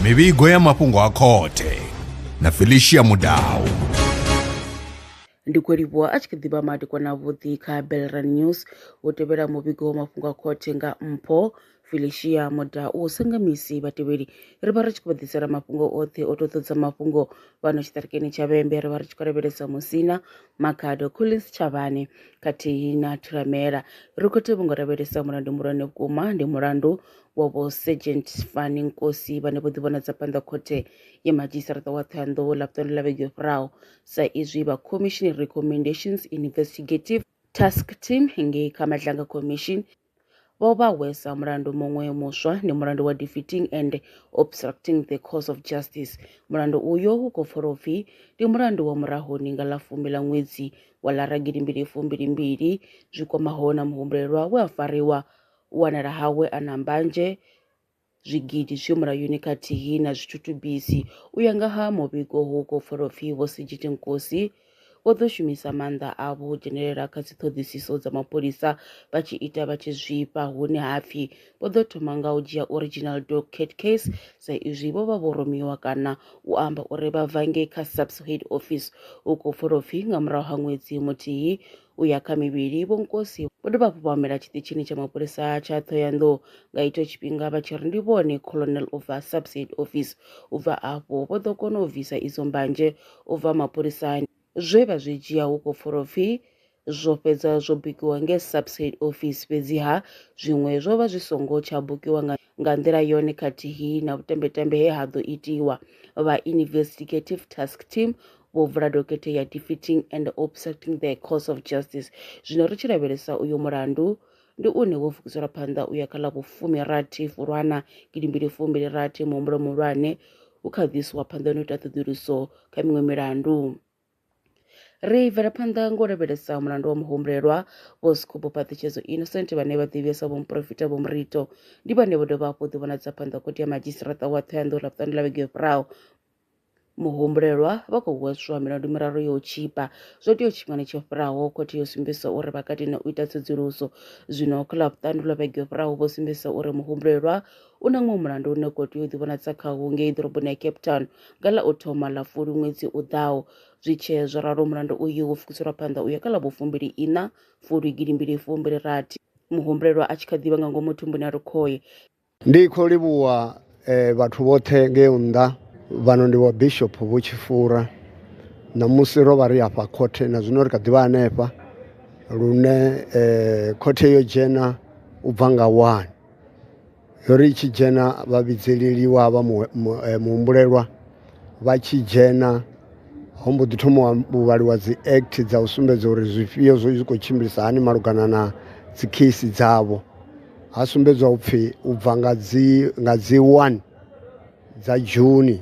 mivhigo ya mafhungo a khothe na felicia mudau ndi khou livhuwa a tshi kha ḓivha madekwana avhuḓi kha belran news u tevhela muvhigo wa mafhungo a khothe nga mpho felicia mudau sanga misi vhatevheli ri vha ri tshi khou vha ḓisela mafhungo oṱhe o to ḓodza mafhungo fhano tshiṱirikini tsha vhembe ri vha ri tshi khou lavhelesa musina Makhado Collins Tshavhani khathihi na Thulamela Rikhothi vho ngo lavhelesa mulandu muhulwane vhukuma ndi mulandu wa vho Sergeant Fani Nkosi vhane vho ḓivhonadza phanḓa khothe ya madzhisiṱaraṱa wa Thohoyandou ḽa vhuṱanu ḽa vhege yo fhiraho sa izwi vha Commission Recommendations Investigative Task Team ngei kha Madlanga Commission Vho vha hwesa mulandu muṅwe muswa ndi mulandu wa defeating and obstructing the cause of justice. Mulandu uyo u khou pfolo pfi ndi mulandu wa murahoni nga ḽa fumi ḽa ṅwedzi wa lara gidi mbili fumbili mbili zwi kwamaho na muhumbulelwa we a fariwa u wanala hawe a na mbanzhe zwigidi zwi mulayoni khathihi na zwithutubisi. U ya nga ha muvhigo hu khou pfala upfi Vho Sejiti Nkosi vho ḓo shumisa maanḓa avho u dzhenelela kha dziṱhoḓisiso dza mapholisa vha tshi ita vha tshi zwifha hune ha pfi vho ḓo thoma nga u dzhia original dog cat case sa izwi vho vha vho rumiwa kana u amba uri vha bva ngei kha SAPS head office hu khou pfala upfi nga murahu ha ṅwedzi muthihi u ya kha mivhili, vhonkosi vho dovha hafhu vha humela tshiṱitshini tsha mapholisa tsha Thohoyandou nga itsho tshifhinga vha tshi ri ndi vhone Colonel u bva Subside Office. U bva afho vho ḓo kona u bvisa idzo mbanzhe u bva mapholisani. Zwe vha zwi dzhia hu khou pfura upfi zwo fhedza zwo bukiwa ngei Subside Office, fhedziha zwiṅwe zwo vha zwi songo tsha bukiwa nga nga nḓila yone khathihi na vhutembetembe he ha ḓo itiwa, vha Investigative Task Team vho vula dokhethe ya Defeating and Obstructing the Course of Justice. Zwino ri tshi lavhelesa uyo mulandu, ndi une wo fukiselwa phanḓa u ya kha ḽa vhufumi rathi Fulwana gidi mbili fumbili rathi muhumbulo muhulwane hu kha ḓiswa phanḓa na u ita ṱhoḓuluso kha miṅwe milandu. Ri bvela phanḓa nga u lavhelesa mulandu wa muhumbulelwa vho Skhumbo Phaṱhutshedzo Innocent vhane vha ḓivhiwa sa vhomuporofita vho Murito ndi vhane vho dovha hafhu ḓivhonadza phanḓa khoti ya madzhisiṱiraṱa wa Thohoyandou ḽa vhuṱanu ḽa vhege yo fhiraho muhumbulelwa vha khou hweswa milandu miraru yo tshipa zwo tea tshifhingani tsho fhiraho khothe yo sumbedzisa uri vha katine u ita tsedzuluso zwino kha ḽavhuṱanu lwa vhege yo fhiraho vho sumbedzisa uri muhumbulelwa U na muṅwe mulandu une u khou tea u ḓivhonadza khawo ngei ḓoroboni ya cape town nga ḽa u thoma ḽa fuli ṅwedzi u ḓaho zwi tshee zwo ralo mulandu uyu wo fukiselwa phanḓa u ya kha ḽa vhufumbili ina fuli gidimbili fumbili rathi muhumbulelwa a tshi kha ḓivha nga ngomu thumbuni a ri khoye Ndi khou livhuwa eh, vhathu vhoṱhe ngei nnḓa. Vhano ndi wa Bishop Vho Tshifura. Ṋamusi ro vha ri afha khothe na zwino ri kha ḓivha hanefha lune eh, khothe yo dzhena u bva nga wani. Ri tshi dzhena vha vhidzeleliwa ha vha mu mu muhumbulelwa vha tshi dzhena ho mbo ḓi thoma u vhaliwa dzi act dza u sumbedza uri zwifhio zwo zwi khou tshimbilisa hani malugana na dzi case dzavho ha sumbedzwa upfhi u bva nga dzi nga dzi one dza dzhuni.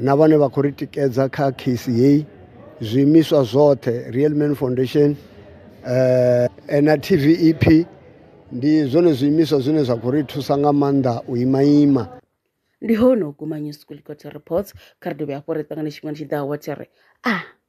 na vhane vha khou ri tikedza kha case heyi zwiimiswa zwoṱhe real man foundation um na tvep ndi zwone zwiimiswa zwine zwa khou ri thusa nga maanḓa u ima ima ndi hone u guma news kulikoti reports kha ri dovhe hafho ri ṱangane tshifhingani tshi ḓaho wa tshi ri a ah.